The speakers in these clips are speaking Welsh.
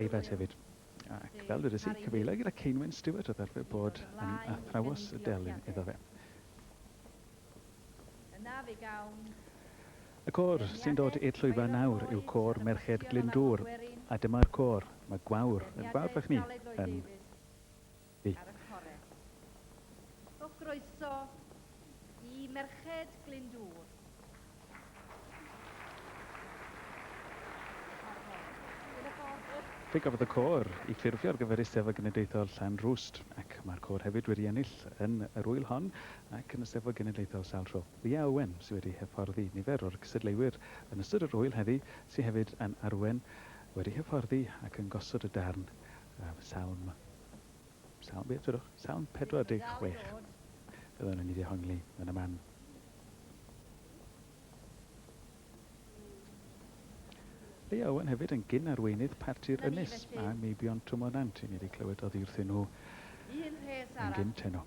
Eifed hefyd. Ac fel dywedais i, cyfeiliai gyda Ceinwen Stewart oedd arfer bod yn athrawes y delyn iddo fe. Y côr sy'n dod i'r llwyfan nawr yw côr Merched Glyndŵr, a dyma'r côr, mae Gwawr, yn fawr fach ni, yn. ar y core. So groeso i Merched Glyndŵr. Fe gafodd y côr ei ffurfio ar gyfer Eisteddfod Genedlaethol Llanrwst ac mae'r côr hefyd wedi ennill yn yr ŵyl hon ac yn y Steddfod Genedlaethol sawl tro. Lia Owen sydd wedi hyfforddi nifer o'r cystadleuwyr yn ystod yr ŵyl heddi sydd hefyd yn arwen, wedi hyfforddi ac yn gosod y darn Salm Salm, beth ydwch? Salm 46. Byddwn yn ei dehongli yn y man. Leia Owen hefyd yn gyn arweinydd parti'r Ynys a Meibion Twmonant. I ni wedi clywed oddi wrthyn nhw yn gyn teno.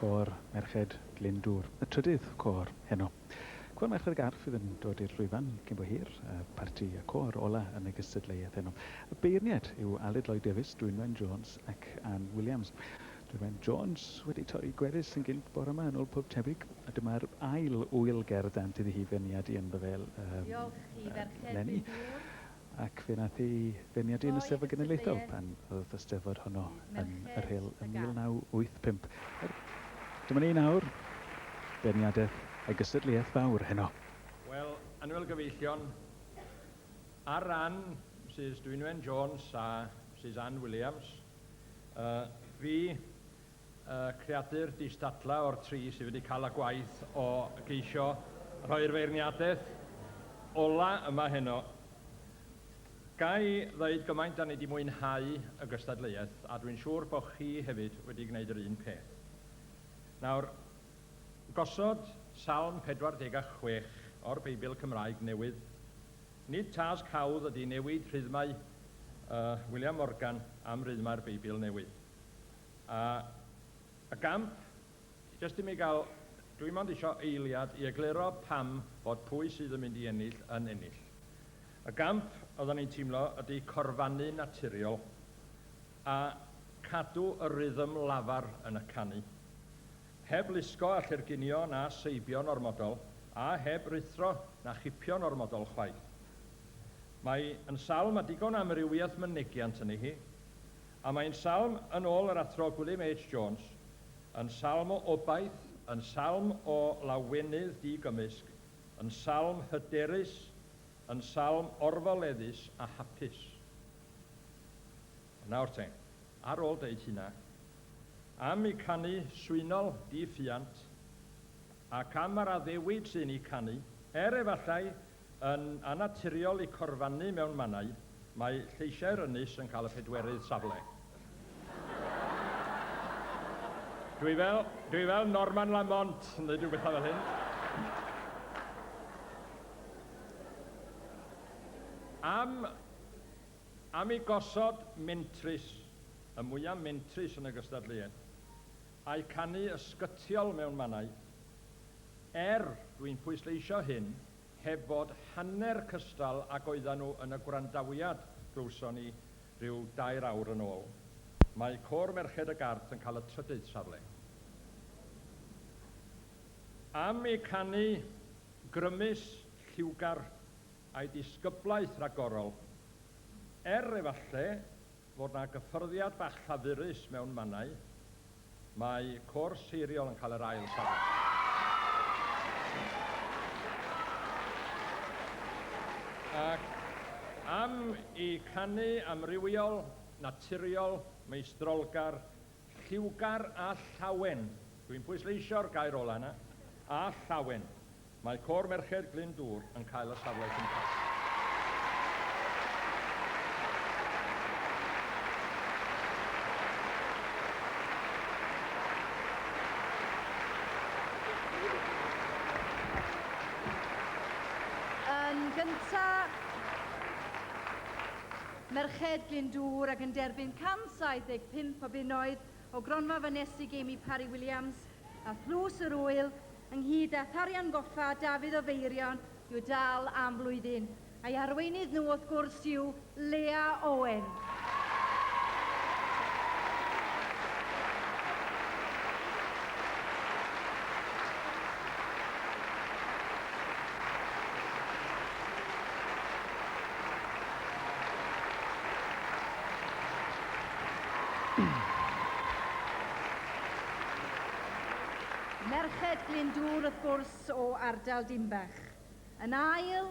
Côr Merched Glyndŵr, y trydydd côr heno. Côr Merched y Garff fydd yn dod i'r llwyfan cyn bo hir, y parti y côr ola yn y gystadleuaeth heno. Y beirniaid yw Aled Lloyd Davies, Dwynwen Jones ac Ann Williams. Ryan Jones wedi torri gwefus yn gynt bore yma yn ôl pob tebyg, a dyma'r ail ŵyl ger y dant iddi hi feirniadu ynddo fe eleni, ac fe wnaeth ei feirniadu yn y Steddfod Genedlaethol pan oedd y Steddfod honno yn yr Rhyl ym 1985. Dyma ni nawr, beirniadaeth a gystadleuaeth fawr heno. Wel, annwyl gyfeillion, ar ran Misus Dwynwen Jones a Misus Ann Williams, Fi, y creadur distadla o'r tri sydd wedi cael y gwaith o geisio rhoi'r feirniadaeth ola yma heno. Ga i ddeud gymaint da ni wedi mwynhau y gystadleuaeth a dwi'n siŵr bod chi hefyd wedi gwneud yr un peth. Nawr, Gosod Salm 46 o'r Beibl Cymraeg Newydd. Nid tasg hawdd ydy newid rhythmau y William Morgan am rythmau'r Beibl Newydd. A y gamp, jyst i mi gael, dwi mond isio eiliad i egluro pam fod pwy sydd yn mynd i ennill yn ennill. Y gamp oeddan ni'n teimlo ydy corfannu naturiol. A cadw y rhythm lafar yn y canu. Heb lusgo a chyrginio na seibio'n ormodol, a heb ruthro na chipio'n ormodol chwaith. Mae yn salm â digon o amrywiaeth mynegiant ynddi hi. A mae'n salm, yn ôl yr Athro Gwilym H. Jones, yn salm o obaith, yn salm o lawenydd di-gymysg, yn salm hyderus, yn salm orfoleddus a hapus. Ond nawr te, ar ôl deud hynna, am y canu swynol di-ffiant, ac am yr addewid sy'n ei canu, er efallai yn annaturiol i corfannu mewn mannau, mae lleisiau'r ynys yn cael y pedwerydd safle. Dwi fel, dwi fel Norman Lamont yn dweud rhywbeth fel hyn. Am, am i gosod mentrus, y mwyaf mentrus yn y gystadleuaeth, a'i canu ysgytiol mewn mannau, er, dwi'n pwysleisio hyn, heb fod hanner cystal ag oeddan nhw yn y gwrandawiad glywson ni Rhyw dair awr yn ôl, mae Côr Merched y Gard yn cael y trydydd safle. Am eu canu grymus, lliwgar a'u disgyblaeth ragorol, er efallai fod 'na gyffyrddiad bach llafurus mewn mannau, Mae cwrs hiriol yn cael yr ail safle. Ac am i canu amrywiol, naturiol, meistrolgar, lliwgar a llawen, dwi'n pwysleisio'r gair ola' yna, a llawen, Mae Côr Merched Glyn Dŵr yn cael y safle cyntaf. Yn gyntaf, Merched Glyn Dŵr ac yn derbyn 175 o bunnoedd o gronfa fanesu Jamie Parry Williams a thlws yr ŵyl ynghyd â Tharian Goffa Dafydd o Feirion i'w dal am flwyddyn, a'i arweinydd nhw wrth gwrs yw Lea Owen. Merched Glyndŵr wrth gwrs o ardal Dinbych. Yn ail.